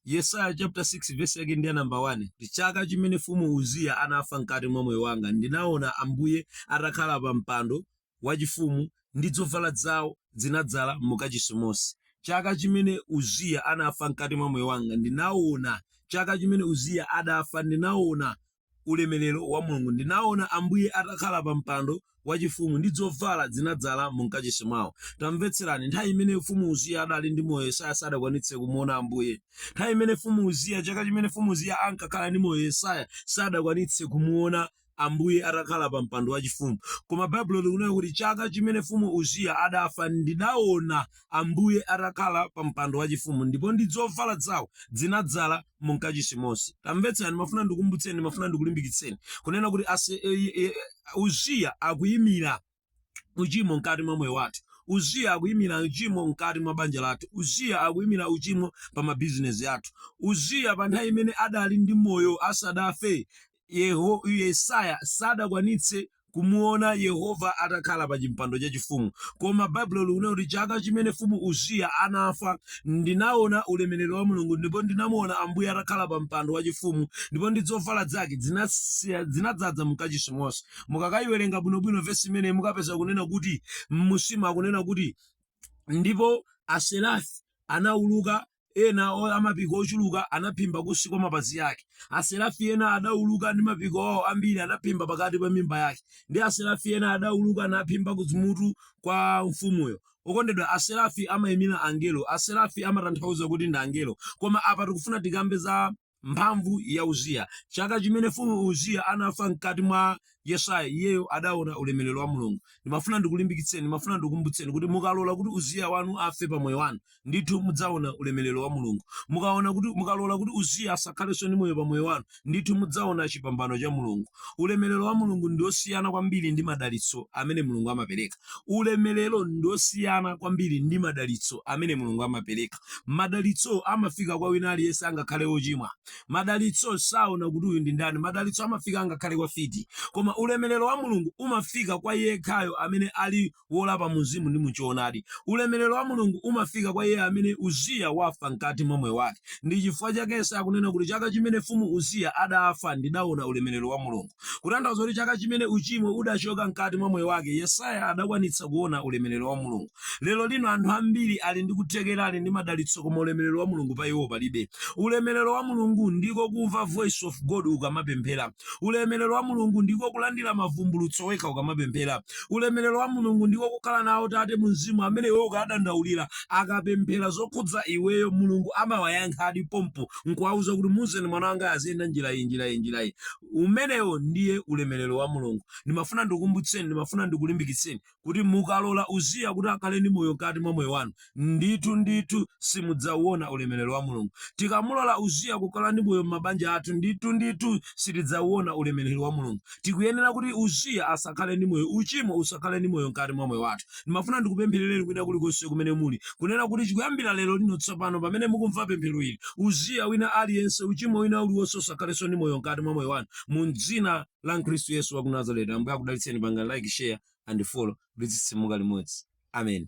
yesaya chapter 6 verse yake ndi ya namba 1 chaka chimene mfumu uziya anafa mkati mwa moyo wanga ndinaona ambuye atakhala pa mpando wachifumu ndi zovala zawo zinadzala mukachisi monse chaka chimene uziya anafa mkati mwa moyo wanga ndinaona chaka chimene uziya adafa ndinaona ulemerero wa Mulungu, ndinaona Ambuye atakhala pa mpando wachifumu ndi dzovala dzinadzala mu mkachisi mwawo. Tamvetserani, nthawi imene mfumu Uziya adali ndi moyo Yesaya sadakwanitse kumuona Ambuye. Nthawi imene mfumu Uziya, chaka chimene mfumu Uziya ankakhala ndi moyo Yesaya sadakwanitse kumuona Ambuye atakhala pa mpando wachifumu. Koma Baibulo likunena kuti chaka chimene mfumu Uziya adafa ndidaona Ambuye atakhala pa mpando wachifumu, ndipo ndi zovala zawo dzinadzala mu mkachisi monse. Tamvetsani, ndimafuna ndikukumbutseni, ndimafuna ndikulimbikitseni kunena kuti ase, e, e, e, Uziya akuyimira uchimo mkati mwa moyo wathu. Uziya akuyimira uchimo mkati mwa banja lathu. Uziya akuyimira uchimo pa mabizinesi athu. Uziya pa nthawi imene adali ndi moyo asadafe Yeho, Yesaya sadakwanitse kumuona Yehova atakhala pa chimpando chachifumu. Koma Baibulo likunena kuti chaka chimene mfumu Uziya anafa, ndinaona ulemerero wa Mulungu ndipo ndinamuona Ambuye atakhala pa mpando wachifumu ndipo ndi zovala zake zinasiya- zinadzadza mkachisi monse. Mukakayiwerenga bwinobwino vesi imeneyi mukapeza kunena kuti m'munsimu akunena kuti ndipo aserafi anauluka ena o- a mapiko ochuluka anaphimba kunsi kwa mapazi ake. Aserafi ena adauluka ndi mapiko awo ambiri anaphimba pakati pa mimba yake. Ndi aserafi ena adauluka naphimba kumutu kwa mfumuyo. Okondedwa, aserafi amaimira angelo. Aserafi amatanthauza kuti ndi angelo. Koma apa tikufuna tikambe za mphamvu ya Uziya. Chaka chimene mfumu Uziya anafa mkati mwa Yesaya, iyeyo adaona ulemerero wa Mulungu. Ndimafuna ndikulimbikitseni, ndimafuna ndikukumbutseni kuti mukalola kuti Uziya wanu afe pa moyo wanu, ndithu mudzaona ulemerero wa Mulungu. Mukaona kuti, mukalola kuti Uziya asakhalenso ndi moyo pa moyo wanu, ndithu mudzaona chipambano cha Mulungu. Ulemerero wa Mulungu ndi wosiyana kwambiri ndi madalitso amene Mulungu amapereka. Ulemerero ndi wosiyana kwambiri ndi madalitso amene Mulungu amapereka. Madalitso amafika kwa wina aliyense angakhale wochimwa. Madalitso saona kuti uyu ndi ndani. Madalitso amafika angakhale kwa mfiti. Koma ulemerero wa Mulungu umafika kwa yekhayo amene ali wolapa mumzimu ndi muchoonadi. Ulemerero wa Mulungu umafika kwa iye amene Uziya wafa mkati mwa moyo wake. Ndi chifukwa chake Yesaya akunena kuti chaka chimene mfumu Uziya adafa ndidaona ulemerero wa Mulungu. Kutanthauza kuti chaka chimene uchimo udachoka mkati mwa moyo wake Yesaya adakwanitsa kuona ulemerero wa Mulungu. Lero lino anthu ambiri ali ndi kuthekera ali ndi madalitso koma ulemerero wa Mulungu pa iwo palibe. Ulemerero wa Mulungu ndiko kumva voice of God ukamapemphera. Ulemerero wa Mulungu ndiko kulandira mavumbulutso wekha ukamapemphera. Ulemerero wa Mulungu ndiko kukhala nawo tate mu mzimu amene iwe ukawadandaulira akapemphera zokhudza iweyo Mulungu amawayankhadi pompo nkuwauza kuti muuzeni mwana wanga aziyenda njira iyi njira iyi njira iyi. Umenewo ndiye ulemerero wa Mulungu. Ndimafuna ndikukumbutseni, ndimafuna ndikulimbikitseni kuti mukalola Uziya kuti akhale ndi moyo mkati mwa moyo wanu, ndithu ndithu simudzawuona ulemerero wa Mulungu. Tikamulola Uziya kukhala ndi moyo m'mabanja athu, ndithu ndithu sitidzawuona ulemerero wa Mulungu. Tikuyenera kuti Uziya asakhale ndi moyo, uchimo usakhale ndi moyo mkati mwa moyo wathu. Ndimafuna ndikupempherereni kwina kulikonse kumene muli, kunena kuti kuyambira lero lino tsopano pamene mukumva pemphero ili, Uziya wina aliyense, uchimo wina uliwonse usakhalenso ndi moyo mkati mwa moyo wanu, mu dzina la Khristu yesu wa ku nazareti ambuye akudalitseni pangani like share and follow kuti titsitsimuke limodzi amen